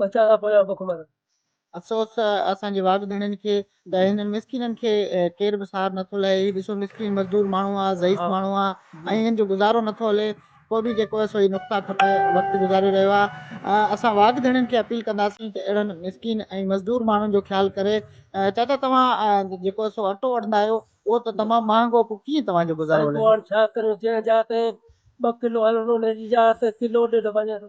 ٻچا ڪا پويان بک مرن. افسوس اسان جي واڳ ڌڻين کي ته هنن مسڪينن کي ڪير به سار نٿو لهي. هي ڏسو مسڪين مزدور ماڻهو آ، ضعيف ماڻهو آ ۽ هن جو گذارو نٿو هلي. پوء به جيڪو هي سوئي نقطه کپ وقت گذاري رهيو آ. اسان واڳ ڌڻين کي اپيل ڪنداسين ته اهڙن مسڪين ۽ مزدور ماڻهن جو خيال ڪري. چاچا توهان جيڪو هي سو اٽو وٺندا آهيو اهو ته تمام مهانگو پوء ڪيئن توهان جو گذارو هلندو. سائين پوء هاڻ ڇا ڪريون جنهن جاء تي ٻه ڪلو هلندو انهي جي جاء تي ڪلو ڏيڍ وڃي ٿو.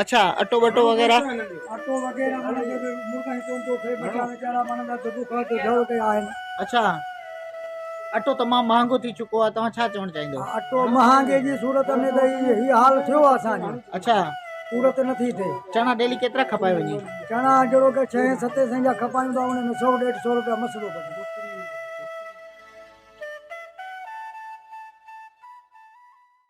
اڇا اٽو ٻٽو وغيره اٽو وغيره معنی جو به مرغن چون ٿو ٿئي ٻچا ويچارا معنی جا دٻو کان ته جهڙ ڪيا آهن اڇا اٽو تمام مهانگو ٿي چڪو آهي توهان ڇا چوڻ چاهيندو اٽو مهانگي جي صورت ۾ ته هي حال ٿيو آهي اسان جو اڇا صورت نٿي ٿئي چڻا ڊيلي ڪيترا کپائي وڃي چڻا جهڙو ڪي 6 7 سين جا کپائيون ٿا ان ۾ 100 150 روپيا مسئلو ڪجي